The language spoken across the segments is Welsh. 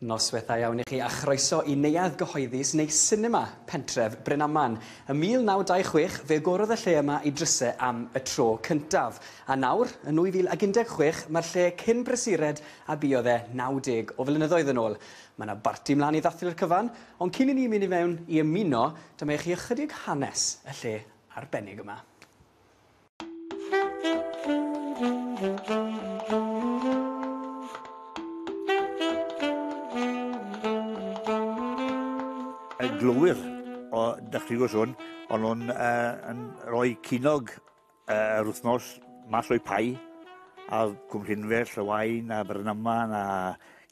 Noswaith dda iawn i chi a chroeso i Neuadd Gyhoeddus neu Sinema Pentref Brynaman. Ym 1926 fe agorodd y lle yma i dryse am y tro cyntaf, a nawr, yn 2016, mae'r lle cyn brysured a buodd e 90 o flynyddoedd yn ôl. Mae yna barti mlaen i ddathlu'r cyfan, ond cyn i ni mynd i mewn i ymuno, dyma i chi ychydig hanes y lle arbennig yma. Yn glywir o dychryn o sôn, ond nhw'n uh, rhoi cynog uh, yr wythnos mas o'i pai, a cwmllynfell, y wain, a Brynaman, a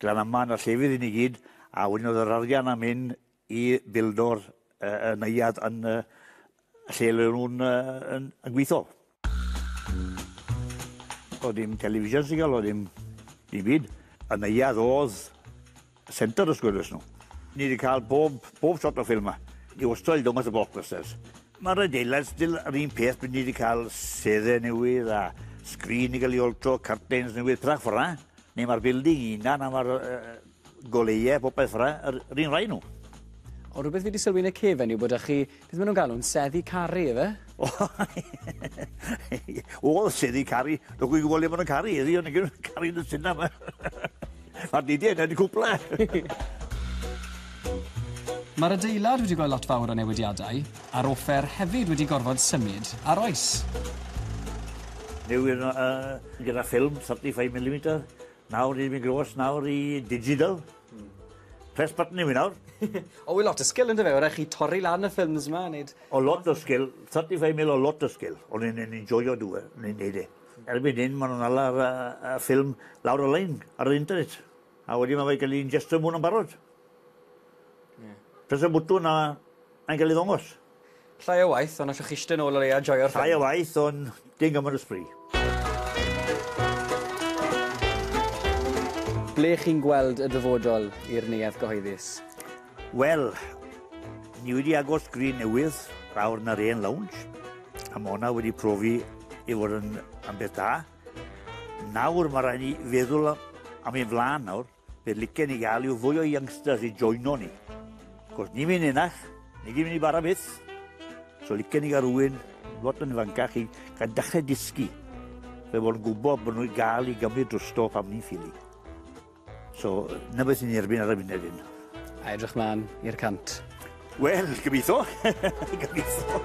Glanaman, a llefydd i ni gyd, a wedyn oedd yr arian am hyn i fildor y neuadd yn y lle le nhw'n yn yn gwitho. O'dd dim television signal o'dd dim dim byd. Y neuadd o'dd center os gwelwch nw. Ni 'di ca'l bob bob shot o ffilm 'ma. Ni wastod 'di dod mas â blockbusters. Ma'r adeilad still yr un peth by' ni 'di ca'l sedde newydd a sgrîn 'di ga'l 'i altro, cyrtins newydd, petha ffel 'na. Neu ma'r building 'i unan a ma'r yy yy Goleuau, popeth ra, yr, yr un rhai nhw. O, rhywbeth fi wedi sylwi yn y cefen yw bod â chi, beth maen nhw'n galw, yn seddi caru, efe? O, o seddi caru, dwi'n gwybod gwybod le maen nhw'n caru, ydy, ond yn caru yn y syna yma. Mae'r didi yna, di cwpla. Mae'r adeilad wedi gweld lot fawr o newidiadau, a'r offer hefyd wedi gorfod symud ar oes. Newid uh, gyda ffilm 35mm, Nawr ni'n mynd grôs nawr i digital. Press button i fi nawr. O, wy lot o sgil ynddo fe, o rai chi torri lan y ffilms yma, neud... O lot o sgil, 35 mil o lot o sgil, o'n i'n yn enjoyo dw e, o'n i'n neud e. Erbyn hyn ma' nw'n ala ar y y ffilm lawr y lein, ar yr internet, a wedyn ma' fe ga'l 'i injectio mewn yn barod. Ie. Press y bwtwn a mae'n ga'l 'i ddongos. Llai o waith, ond allwch eistedd nôl o leia a joio'r ffilm. Llai o waith, ond dim gymaint o sbri. Ble chi'n gweld y dyfodol i'r neuadd gyhoeddus? Wel, ni wedi agor sgrin newydd lawr na'r hen lounge, a mae hwnna wedi profi i fod yn ambell da. Nawr mae rhaid ni feddwl am ein flaen nawr. Be licen i gael yw fwy o youngsters i joino ni. Cos ni fi'n enach, ni gyd mynd i bara byth. So licen i gael rhywun, lot yn ifancach i gael dechrau dysgu. Fe bod yn gwybod bod nhw'n gael i gymryd drosto pam ni'n ffili. So, na beth ni'n erbyn ar y funud hyn. A edrych mlaen i'r cant. Wel, gobeithio. gobeithio.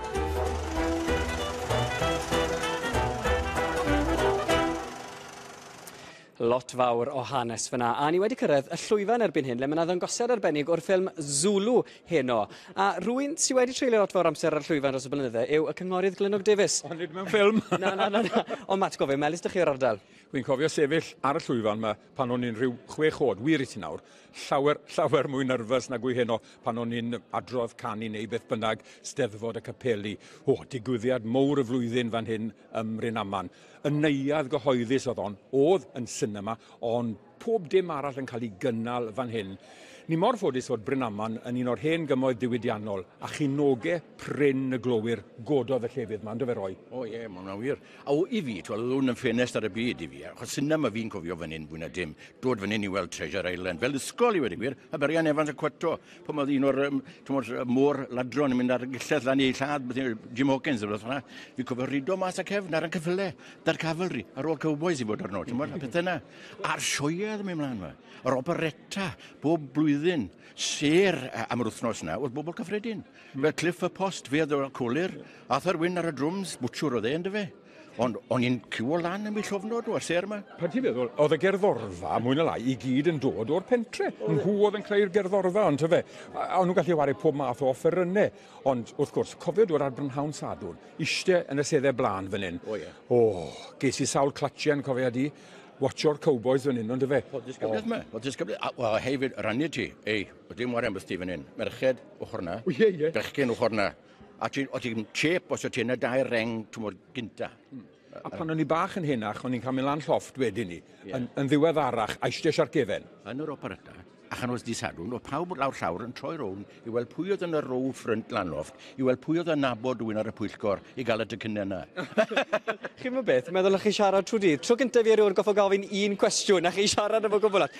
Lot fawr o hanes fyna, a ni wedi cyrraedd y llwyfan erbyn hyn, le mae yna ddangosiad arbennig o'r ffilm Zulu heno. A rwy'n sy'n wedi treulio lot fawr amser ar y llwyfan dros y blynydde yw y cynghorydd Glynog Davies. Ond nid mewn ffilm! na, na, na, na. Ond Matt, gofio, melus dych chi o'r ardal. Rwy'n cofio sefyll ar y llwyfan yma pan o'n i'n rhyw chwech oed, wir i ti nawr, llawer, llawer mwy nyrfys nag wy heno pan o'n i'n adrodd canu neu beth bynnag, steddfod y capeli. O, digwyddiad mowr y flwyddyn fan hyn ym Mryn-aman. Y neuadd gyhoeddus oedd hon, oedd yn sinema, ond pob dim arall yn cael ei gynnal fan hyn. Ni mor ffodus fod Bryn-aman yn un o'r hen gymoedd diwydiannol, a chinoge prin y glowyr gododd y llefydd yma, ynddo fe Roy? O ie, mae hwnna'n wir. A o, i fi, twel, hwn yn ffenest ar y byd i fi, achos sinema fi'n cofio fan hyn fwy na dim, dod fan hyn i weld Treasure Island, fel ysgol i wedi gwir, Aberian Evans a Cwato. pan oedd un o'r um, môr ladron yn mynd ar gyllell lan ei lladd, Jim Hawkins, oedd hwnna, fi cofio rido mas a cefn ar y cyffyle, da'r cavalry, ar ôl cowboys i fod arno, ti'n bod, a pethau yna. A'r sioiau ddim yn mlaen yma. Yr operetta, bob blwyddyn, ser am yr wythnos yna, oedd bobl cyffredin. Mm. Fel Cliff y Post, fe oedd o'r colir, Arthur Wyn ar y drwms, bwtsiwr oedd e, ynddo fe. Ond o'n i'n cywo lan yn mi llofnod nhw ar ser yma. Pa ti'n meddwl, oedd y gerddorfa, mwy na lai, i gyd yn dod o'r pentre. Mm. Nhw oedd yn creu'r gerddorfa, ond tyfe. O'n nhw'n gallu wario pob math o offerynnau. Ond, wrth gwrs, cofio dod ar brynhawn sadwn, ishte yn y seddau blaen fan hyn. O, oh, ie. Yeah. O, oh, ges i sawl clatchen, cofio di, watcho'r cowboys fan hyn, ond tyfe. O, disgybliaeth yma, o, disgybliaeth. O, hefyd, rannu ti, ei, o dim warem byth ti fan hyn. Merched, ochr na. O, ie, ie. Bechgyn, ochr na. A ti, o ti'n chip os o ti'n y dair reng, ti'n mwyn gynta. Mm. A pan o'n i bach yn henach, o'n i'n cael mynd lan llofft wedyn ni, yeah. yn, yn ddiweddarach, a eistedd ar gefen. Yn yr operata, a chan oedd disadwn, oedd pawb lawr llawr yn troi rown i weld pwy oedd yn y row ffrynt lan llofft, i weld pwy oedd yn nabod rwy'n ar y pwyllgor i gael y dycynnau yna. Chi'n mynd beth, meddwl chi siarad trwy dydd. Tro gyntaf i erioed goffa gofyn un cwestiwn, a chi siarad efo gwbl at.